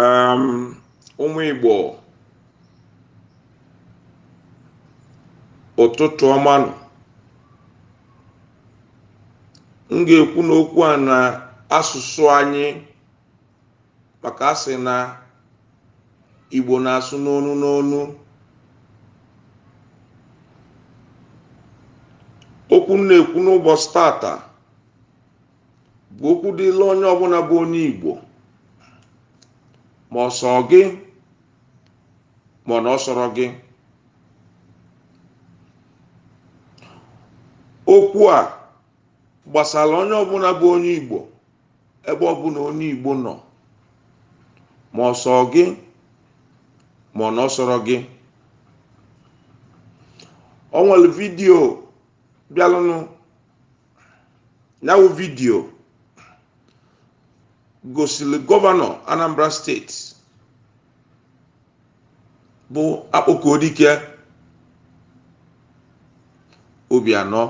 Um, ụmụ Igbo ụtụtụ ọma nụ m ga-ekwu n'okwu a na asụsụ anyị maka a sị na Igbo na-asụ n'onu n'onu okwu m na-ekwu n'ụbọsị tata bụ okwu dịlị onye ọbụna bụ onye Igbo ma ọ sọ gị ma ọ na ọ sọrọ gị okwu a gbasalụ onye ọbụna bụ onye Igbo ebe ọbụna onye Igbo nọ ma ọ sọ gị ma ọ na ọ sọrọ gị o nwelu vidiyo bịalụnụ nyawụ vidiyo gosili gọvanọ anambra steeti bụ akpọkuedike obianọ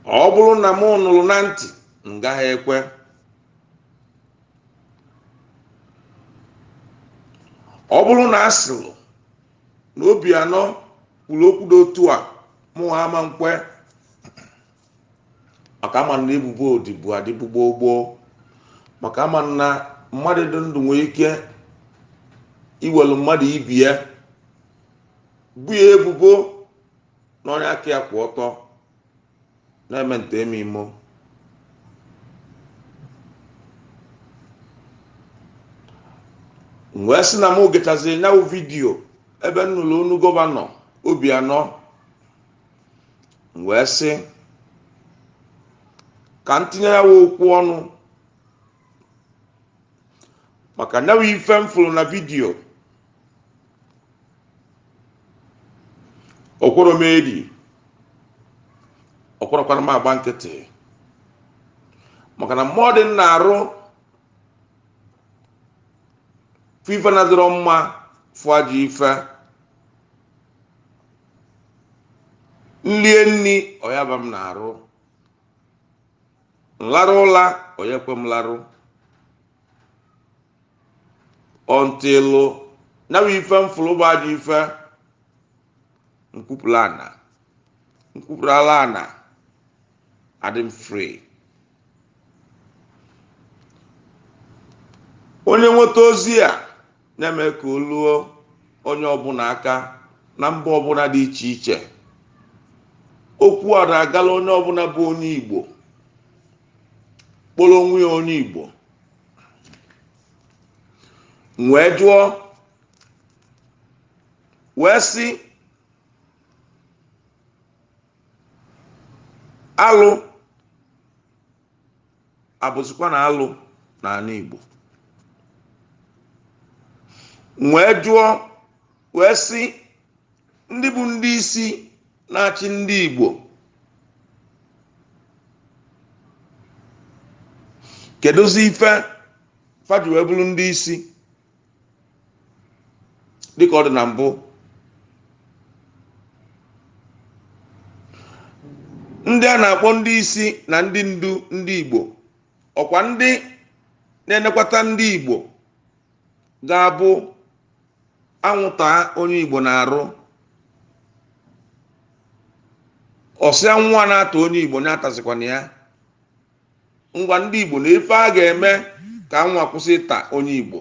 ọ bụlụ na m nụlụ na ntị m gaghị ekwe ọ bụlụ na a sịrị na Obianọ kwulu okwu dị otu a mụ ama nkwe maka ama m na ebubo ọ dịbu adịbu gboo gboo maka ama m na mmadụ dị ndụ nwee ike iwelu mmadụ ibe ya bo ya ebubo na onye aka ya kwụ ọtọ na-eme nta eme imo m wee sị na m gechaziri nyawụ vidiyo ebe m nụlụ onu gọvanọ obianọ m wee sị ka m tinye nyawụ okwu ọnụ maka nyawụ ife m fụlụ na vidiyo o kwerọ m edi o kwerọkwara m agba nkịtị maka na mmụọ dị m n'arụ fụ ife na-adịrọ mma fụ ajọ ife m lie nni ọ ya-aba m n'arụ m larụ ụla ọ ya-ekwe m larụ until nya bụ ife m fụlụ bụ ajọ ife m kwupụrụ ana m kwupụrụ ala ana adị m free onye nweta ozi a na-eme ka o luo onye ọbụna aka na mba ọbụna dị iche iche okwu a na-agala onye ọbụna bụ onye igbo kpọlọ onwe ya onye igbo m wee jụọ wee sị alụ abụzikwa na alụ n'ana Igbo m wee jụọ wee sị ndị bụ ndị isi na-achị ndị Igbo kedụzi ife fa ji wee bụlụ ndị isi dịka ọ dị na mbụ ndị a na-akpọ ndị isi na ndị ndu ndị Igbo ọkwa ndị na-enekwata ndị Igbo ga-abụ anwụ taa onye igbo n'arụ ọ sị anwụ na-ata onye igbo na-atazikwa nya ngwa ndị igbo na ife a ga-eme ka anwụ kwụsị ịta onye igbo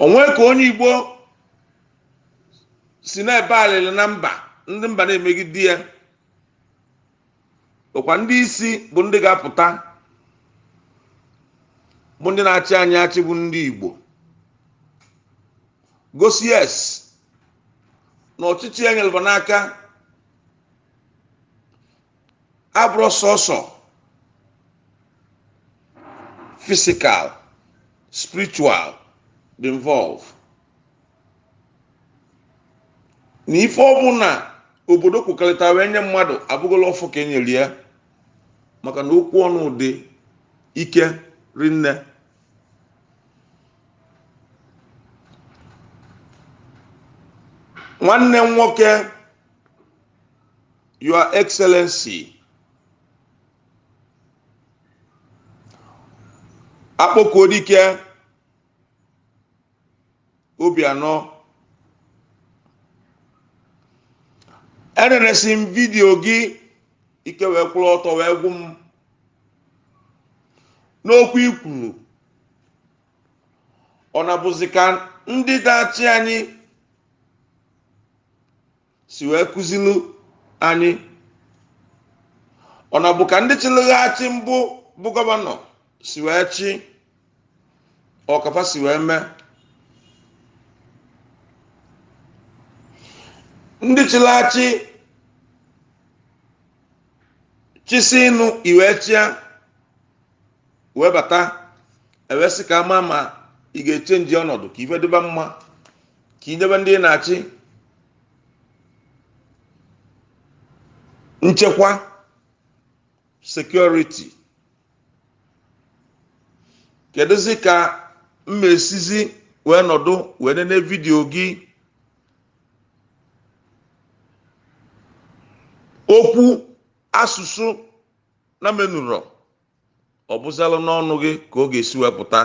o nwee ka onye igbo si na-ebe alịlị na mba ndị mba na-emegide ya ọkwa ndị isi bụ ndị ga-apụta bụ ndị na-achị anyị achị bụ ndị Igbo gosi yes na ọchịchị e nyelụ fa n'aka abụrọ sọsọ physical spiritual dị involve na ife ọbụna obodo kwekọlịta wee nye mmadụ abụgola ọfọ ka e nyelụ ya maka na okwu ọnụ dị ike rinne nwanne m nwoke your excellency Akpọkuedike Obianọ enenesị m video gị ike wee kwụrụ ọtọ wee gwụ m n'okwu i kwuru ọ na-abụzi ka ndị na-achị anyị si wee kụzilu anyị ọ na ọ bụ ka ndị chịlị achị mbụ bụ gọvanọ si wee chị ọ ka fa si wee mee ndị chịlị achị chịsịnụ ị wee chịa wee bata e wee sị ka a ma ma ị ga-echenji ọnọdụ ka ife dịba mma ka i nyebe ndị ị na-achị nchekwa security kedụzi ka m mesizi wee nọdụ wee nene vidiyo gị okwu asụsụ na menụrọ ọ bụzịlụ n'ọnụ gị ka ọ ga-esi wee pụta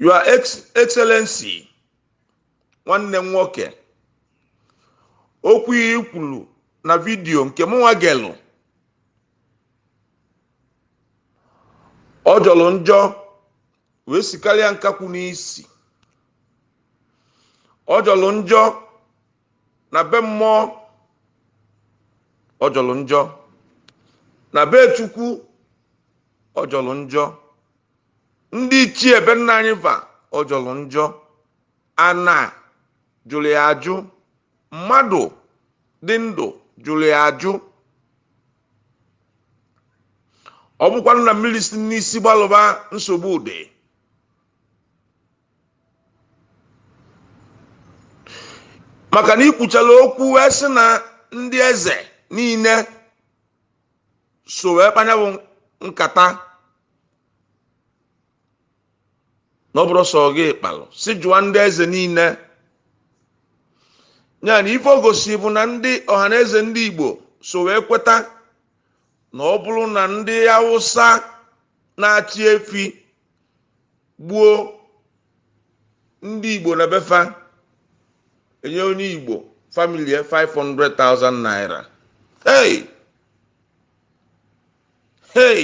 your excellency nwanne m nwoke okwu i kwuru na vidiyo nke mụnwa gelụ ọ jọlụ njọ wee sikarịa nkakwu n'isi ọ jọlụ njọ na be mmụọ ọ jọlụ njọ na be chukwu ọ jọlụ njọ ndị ichie be nna anyị va ọ jọlụ njọ ana jụlụ ya ajụ mmadụ dị ndụ jụlụ ya ajụ ọ bụkwanụ na mmiri si n'isi gbalụba nsogbu dị maka na i kwuchala okwu wee sị na ndị eze niile so wee kpaa nya bụ nkata na ọ bụrọ sọ gị kpalụ sị jụọ ndị eze niile ya na ife o gosi bụ na ndị ọha na eze ndị igbo so wee kweta na ọ bụlụ na ndị awụsa na-achị efi gbuo ndị igbo na be fa e nye onye igbo family 500,000 naira hey hey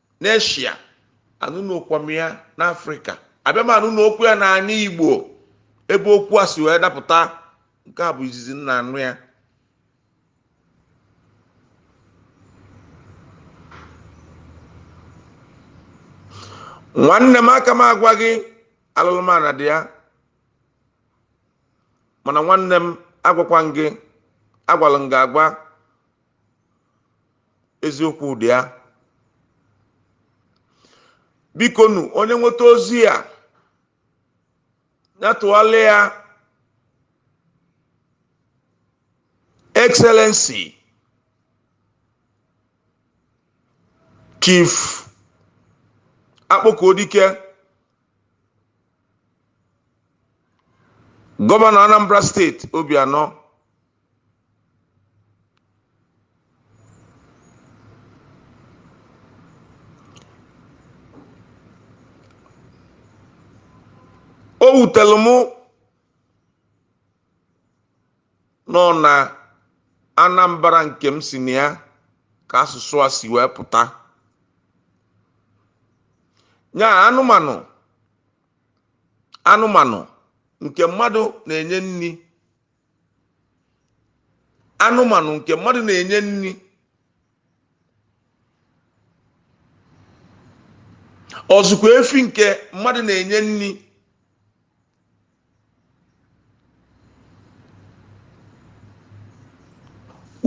n'eshia anụnụọkwa m ya n'afrịka abịa m anụnụọkwa ya n'ana igbo ebe okwu a si wee dapụta nke a bụ izizi m na-anụ ya nwanne m aka m agwa gị alụlụmana dị ya mana nwanne m agwakwa m gị agwalụ m gị agwa eziokwu dị ya bikonu onye nweta ozi a ya tụgharịa excellency chief akpọkuodike gọvanọ anambra steeti obianọ o wutere mụ na ọ na anambra nke m si na ya ka asụsụ a si wee pụta ya anụmanụ anụmanụ nke mmadụ na-enye nri anụmanụ nke mmadụ na-enye nri ọzụkwa efi nke mmadụ na-enye nri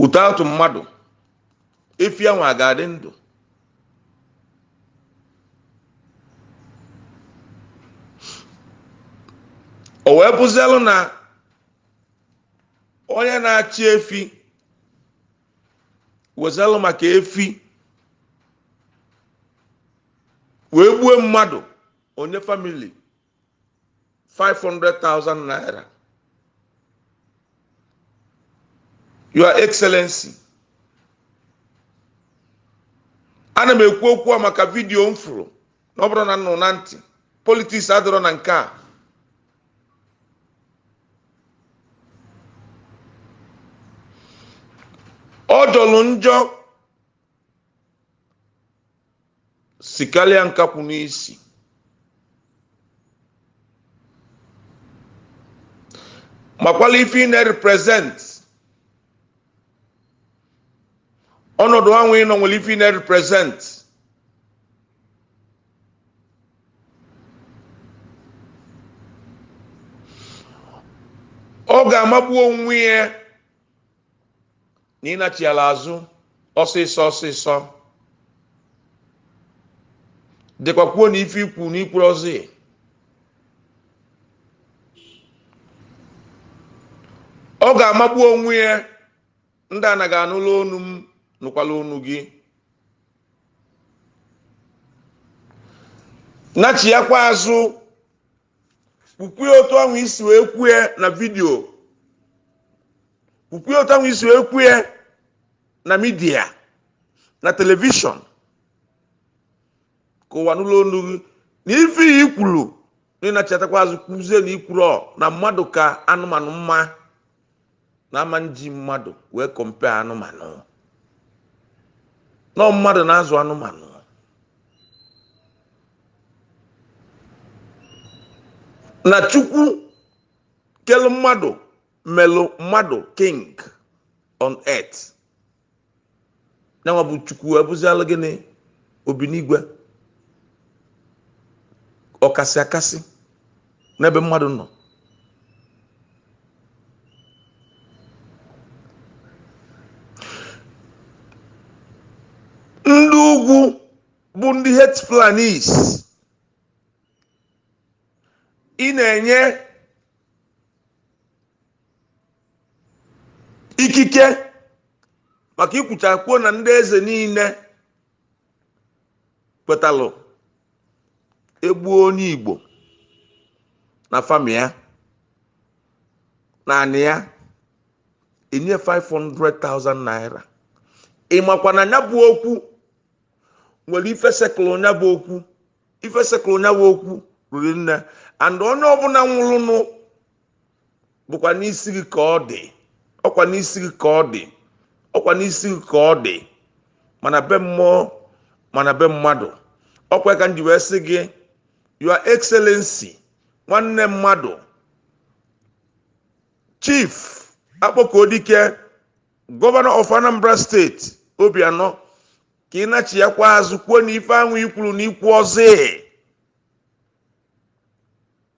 without mmadụ efi ahụ a ga-adị ndụ o wee bụzielụ na onye na-achị efi wezelụ maka efi wee gbue mmadụ o nye famili 500,000 naira your excellency ana m ekwu okwu a maka vidiyo m fụrụ na ọ bụrọ na nnụ na ntị politiks adịrọ na nke a ọ jọrọ njọ sikarịa nkakwụ n'isi makwala ife ị na-represent ọnọdụ ahụ ị nọ nwere ife ị na-represent ọ ga-amagbu onwe ya na ị nachiala azụ ọsịsọ ọsịsọ dịkwa kwuo na ife i kwu na i kwurozi ọ ga-amagbu onwe ya ndị ana gị anụla onu m nụkwala onu gị nachiakwa azụ kwukwue otu ahụ i si wee kwue na video kwukwue otu ahụ i si wee kwue na media na television ka ụwa nụlụ olu gị na ife i kwulu na ị nachiatakwa azụ kwuzie na i kwurọ na mmadụ ka anụmanụ mma na a ma-eji mmadụ wee compare anụmanụ na ọ mmadụ na-azụ anụmanụ na chukwu kelu mmadụ melụ mmadụ king on earth ya nwa bụ chukwu abụzịalụ gịnị obinigwe ọkasị akasị n'ebe mmadụ nọ ndị ugwu bụ ndị herd fulanis ị na-enye ikike maka i kwuchaa kwuo na ndị eze niile kwetalụ e gbuo onye igbo na farm ya naanị ya enye 500,000 naira ị makwa na ya bụ okwu nwere ife sekụlụ ya bụ okwu ife sekụlụ ya bụ okwu riri nne and onye ọbụla nwụlụnụ bụkwa n'isi gị ka ọ dị ọkwa n'isi gị ka ọ dị ọkwa n'isi gị ka ọ dị ma na be mmụọ ma na be mmadụ ọkwa ka m ji wee sị gị your excellency nwanne mmadụ chief akpọkuedike governor of anambra state obianọ ka ị nachiakwa azụ kwuo na ife ahụ i kwuru na i kwuọzị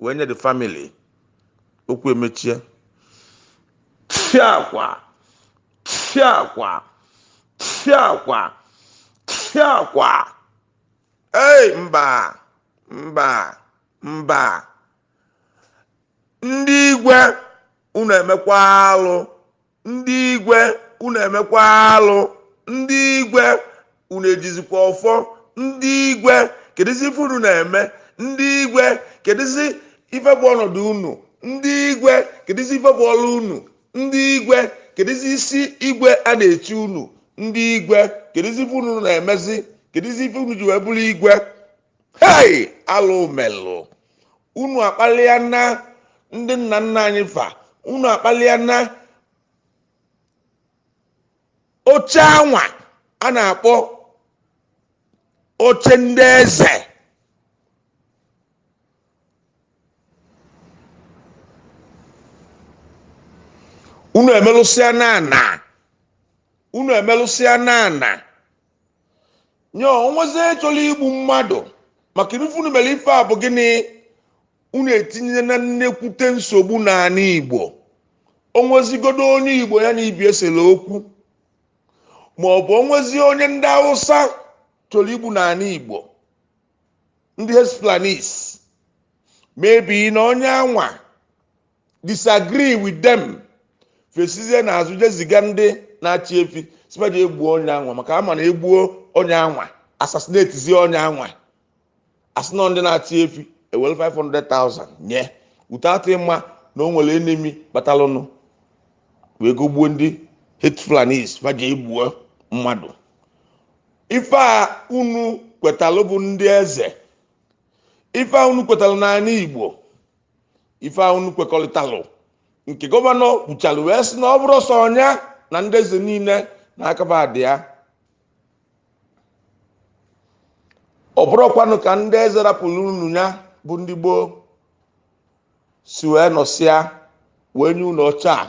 wee nye the family okwu emechie tụfịakwa tụfịakwa tụfịakwa tụfịakwa ei mba mba mba ndị igwe unu emekwa alụ ndị igwe unu emekwa alụ ndị igwe unu ejizikwa ọfọ ndị igwe kedụzi ife unu na-eme ndị igwe kedụzi ife bụ ọnọdụ unu ndị igwe kedụzi ife bụ ọrụ unu ndị igwe kedụzi isi igwe a na-echi unu ndị igwe kedụzi ife unu na-emezi kedụzi ife unu ji wee bụrụ igwe hei alụ melụ unu akpalịana ndị nna nna anyị fa unu akpalịana oche anwa a na-akpọ oche ndị eze unu emelụsịana ana unu emelụsịana ana nye o nwezi chọlọ igbu mmadụ maka ife unu mere ife a bụ gịnị unu etinyena nnekwute nsogbu n'ana igbo o nwezigodo onye igbo ya na ibe ya sere okwu ma ọ bụ o nwezi onye ndị hausa chọlọ igbu n'ana igbo ndị herds fulanis maybe na onye anwa disagree with them fa esizie n'azụ jee ziga ndị na-achị efi sị ba jee gbuo onye anwa maka a ma na e gbuo onye anwa assassinatezie onye anwa a sị na ọ ndị na-achị efi e were 500,000 nye without ịma na o nwere enemy kpatalụnụ wee gogbuo ndị herds fulanis ba jee gbuo mmadụ ife a unu kwetalụ bụ ndị eze ife a unu kwetalụ n'ana igbo ife a unu kwekọrịtalụ nke gọvanọ kwuchalụ wee sị na ọ bụrọ sọ nya na ndị eze niine na aka fa dị ya ọ bụrọkwanụ ka ndị eze rapụlụ unu nya bụ ndị gboo si wee nọsịa wee nye unu oche a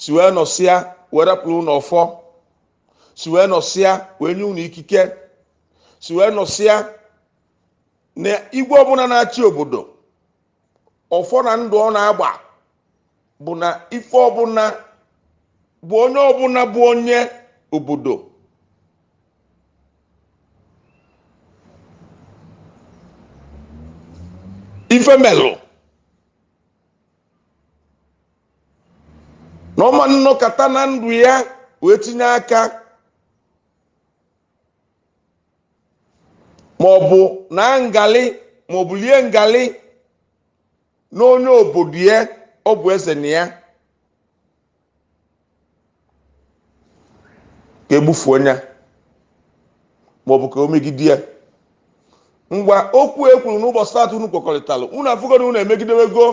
si wee nọsịa wee rapụlụ unu ọfọ si wee nọsịa wee nye unu ikike si wee nọsịa na igwe ọbụna na-achị obodo ọfọ na ndụ ọ na-agba bụ na ife ọbụna bụ onye ọbụna bụ onye obodo ife melụ na ọ ma nọkata na ndụ ya wee tinye aka ma ọ bụ naa ngalị ma ọ bụ lie ngalị n'onye obodo ya ọ bụ eze na ya ka e gbufuo nya ma ọ bụ ka o megide ya ngwa okwu e kwuru n'ụbọchị taata unu kwekọrịtara unu afụgo na unu emegidewego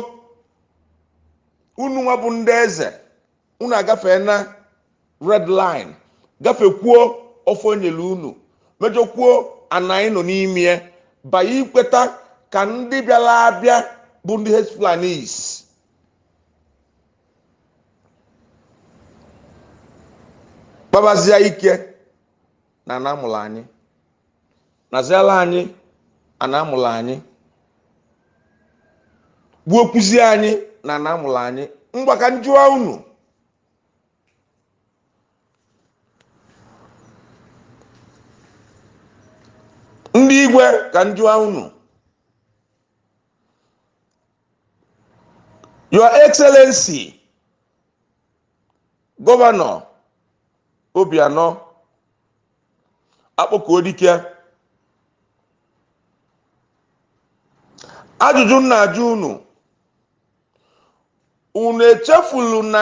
unu nwa bụ ndị eze unu agafeena red line gafekwuo ọfọ e nyere unu mejọkwuo ana anyị nọ n'ime ya by ikweta ka ndị bịara abịa bụ ndị herds fulanis kpabazie ike n'ana a mụrụ anyị naziala anyị a na-amụla anyị gbuo kwuzi anyị na na-amụla anyị ngwa ka m jụwa unu ndị igwe ka m jụwa unu your excellency gọvanọ obianọ akpọkuo dike ajụjụ m na-ajụ unu unu echefulu na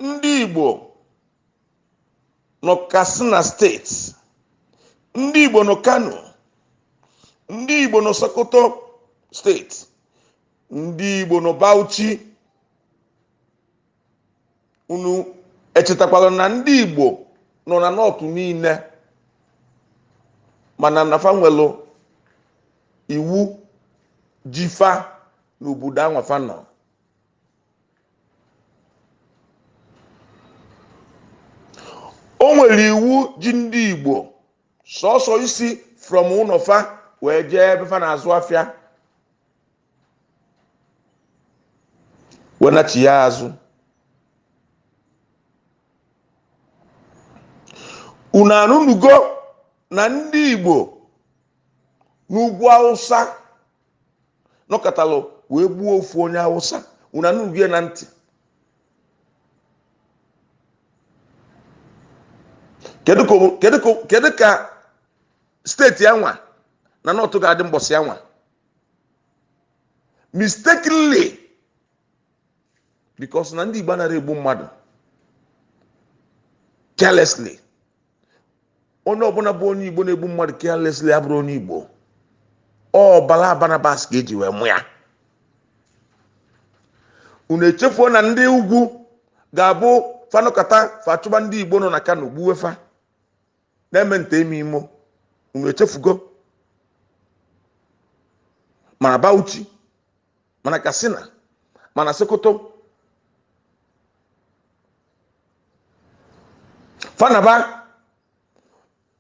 ndị igbo nọ katsina steeti ndị igbo nọ kano ndị igbo nọ sokoto steeti ndị igbo nọ bauchi unu echetakwala na ndị igbo nọ na nọtụ niile mana na fa nwelu iwu ji fa n'obodo anwa fa nọ o nwere iwu ji ndị igbo sọsọ isi from ụnọ fa wee jee ebe fa na-azụ afịa wee nachia azụ unu anụnugo na ndị Igbo n'ugwu Awụsa nọkatalụ wee gbuo ofu onye Awụsa unu anụnugo ya na ntị kedu ka steeti anwa na nọtụ ga-adị mbọsị anwa mistakenly because na ndị Igbo anarọ egbu mmadụ carelessly onye ọbụna bụ onye Igbo na-egbu mmadụ carelessly abụrọ onye Igbo ọbala Barnabas ka e ji wee mụ ya unu echefuo na ndị ugwu ga-abụ fa nọkata fa achụba ndị Igbo nọ na Kano gbuwe fa na-eme nta eme imo unu echefugo mana Bauchi mana Katsina mana Sokoto fa anaba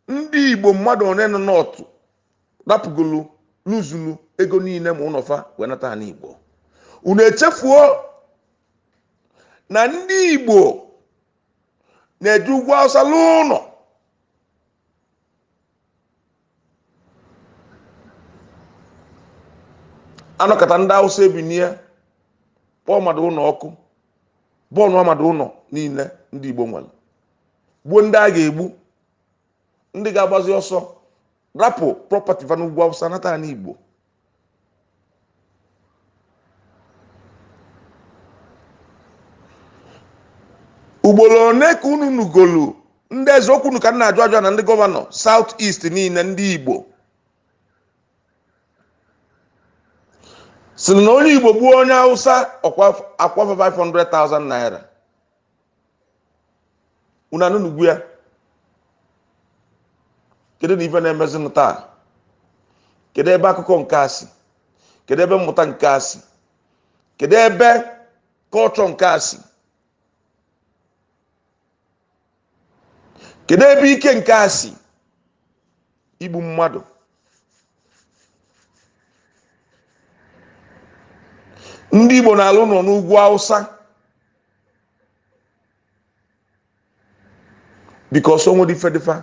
ndị Igbo mmadụ one nọ nọtụ rapụgolu luzulu ego niile ma ụnọ fa wee nata ani Igbo unu echefuo na ndị Igbo na-eje ugwu awụsa lụọ ụnọ a nọkata ndị awụsa ebinie kpọọ mmadụ ụnọ ọkụ bọọnụọ mmadụ ụnọ niile ndị igbo nwere gbuo ndị a ga-egbu ndị ga-agbazi ọsọ rapụ property va n'ugwu awụsa nata anị igbo ugbolo one ka unu nugolu ndị eze ọ kwa unu ka m na-ajụ ajụ na ndị gọvanọ south east niine ndị igbo sịlị na onye igbo gbuo onye awụsa a kwụa fa 500,000 naira unu anụnugo ya kedu nụ ife na-emezinụ taa kedu ebe akụkọ nke a si kedu ebe mmụta nke a si kedu ebe culture nke a si kedu ebe ike nke a si igbu mmadụ ndị igbo na-alụ ụnọ n'ugwu awụsa because o nwerọ ife dị fa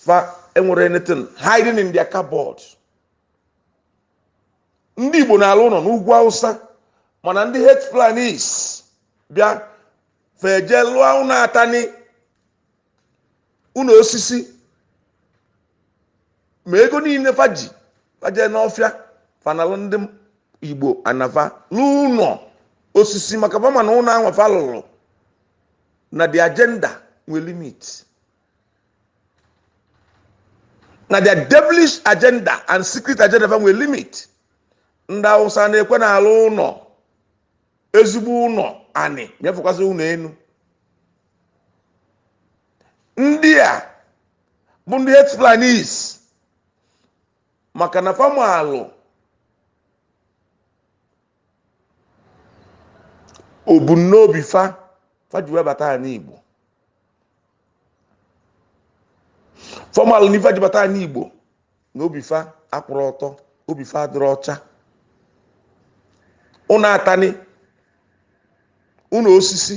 fa enwerọ anything hiding in their cupboard ndị Igbo na-alụ ụnọ n'ugwu Awụsa mana ndị herd fulanis bịa fa eje lụọ ụnọ atanị ụnọ osisi ma ego niine fa ji fa jee n'ọfịa fa nalụ ndị igbo ana fa lụọ ụnọ osisi maka fa ma na ụnọ ahụ fa lụlụ na the agenda nwere limit na the devilish agenda and secret agenda fa nwere limit ndị awụsa ana ekwe na-alụ ụnọ ezigbo ụnọ anị ma ya fọkwazi ụnọ enu ndị a bụ ndị herd fulanis maka na fa malụ ebumnobi fa fa ji wee bata anị igbo fa malụ n'ife e ji bata anị igbo na obi fa akwụrọ ọtọ obi fa adịrọ ọcha ụnọ atanị ụnọ osisi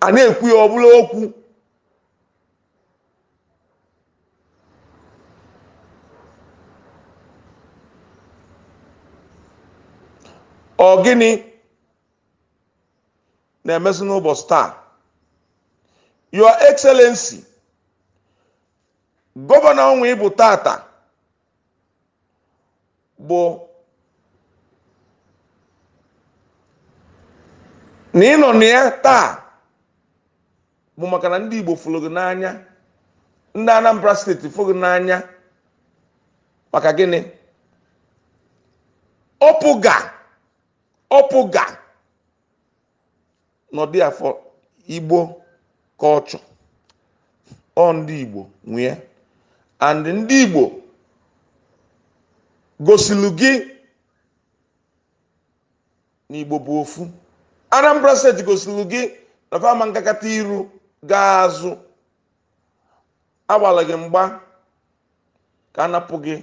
a na-ekwu ya ọ bụlụ okwu ọ gịnị na-emesị n'ụbọsị taa your excellency gọvanọ ọnwa ị bụ tata bụ na ị nọ na ya taa bụ maka na ndị Igbo fụlụ gị n'anya ndị Anambra steeti fụlụ gị n'anya maka gịnị APGA APGA n'ọdị afọ igbo culture ọ ndị igbo nwee and ndị igbo gosilu gị na igbo bụ ofu anambra steeti gosilu gị na fa ama nkakata iru gaa azụ agbala gị mgba ka a napụ gị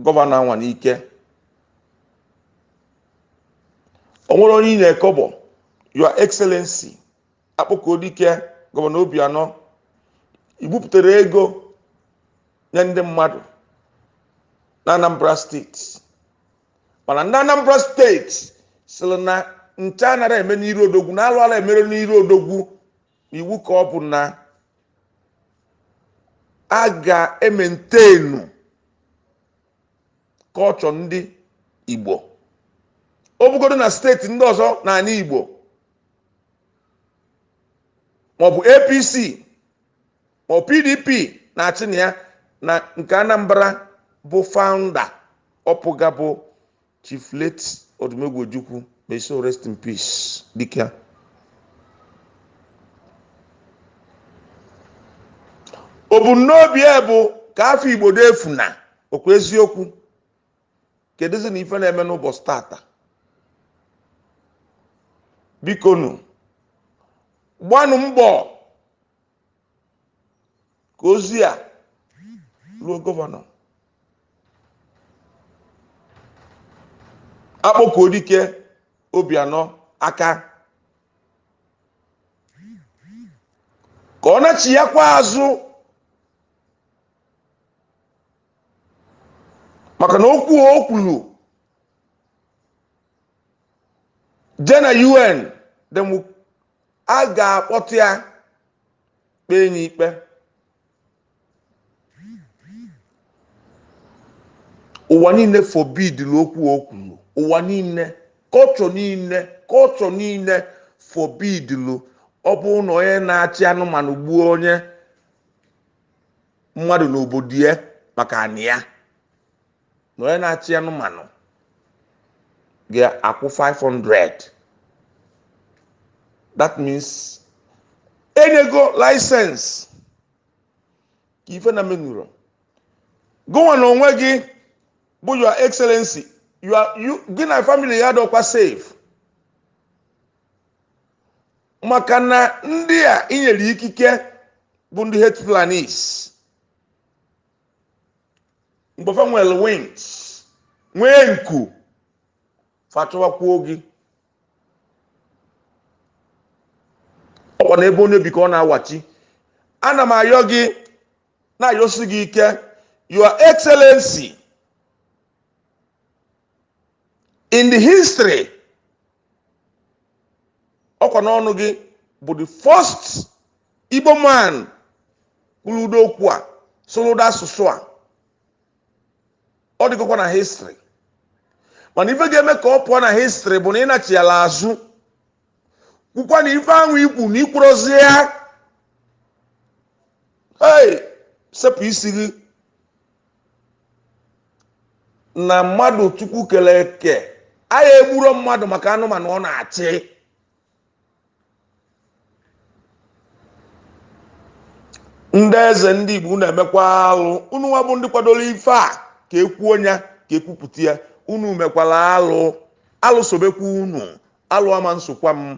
gọvanọ anwa n'ike o nwere onye ị na-ekọbọ your excellency akpọkuo dike gọvanọ obianọ i bupụtara ego nye ndị mmadụ na anambra steeti mana ndị anambra steeti sịrị na ncha anara eme n'iru odogwu na alụ ala e mere n'iru odogwu iwu ka ọ bụ na a ga-emaintain culture ndị igbo ọ bụgodo na steeti ndị ọzọ n'ala igbo maọbụ apc maọbụ pdp na-achị na ya na nke anambra bụ founder apga bụ Chief late Odumegwu Ojukwu may his soul rest in peace dike a. O bu n'obi ya bụ ka afọ Igbo dị ofu na okwu eziokwu kedụzi na ife na-eme n'ụbọchị tata bikonu gbanụ mbọ ka ozi a ruo gọvanọ akpọkuo dike obianọ aka ka ọ nachighakwa azụ maka na okwu o kwuru je na un then we a ga-akpọta ya kpee ya ikpe ụwa niile forbidiri okwu o kwuru ụwa niile culture niile culture niile forbidiri ọ bụrụ na onye na-achị anụmanụ gbuo onye mmadụ n'obodo ya maka anị ya na onye na-achị anụmanụ ga-akwụ 500 that means enyego license ka ife na menuro gụnwa na onwe gị bụ your excellency gị na family gị adọkwa safe maka na ndị a i nyere ikike bụ ndị hate fulanis mgbe fa nwere wings nwee nku fa achọwakwuo gị ọkwa na ebe onye bi ka ọ na-awachi ana m ayọ gị na-ayọsi gị ike your excellency in the history ọkwa n'ọnụ gị bụ the first igbo man kwuru ụdị okwu a sụrụ ụdị asụsụ a ọ dịgokwa na history mana ife ga-eme ka ọ pụọ na history bụ na ị nachigha azụ kwukwa na ife ahụ ikwu na i kwurozi ya ee sepụ isi gị na mmadụ chukwu kere eke anyị egburo mmadụ maka anụmanụ ọ na-achị ndị eze ndị igbo unu emekwa alụ unu nwa bụ ndị kwadoro ife a ka e kwuo ya ka e kwupụta ya unu mekwara alụ alụ sobekwa unu alụ ama nsokwa m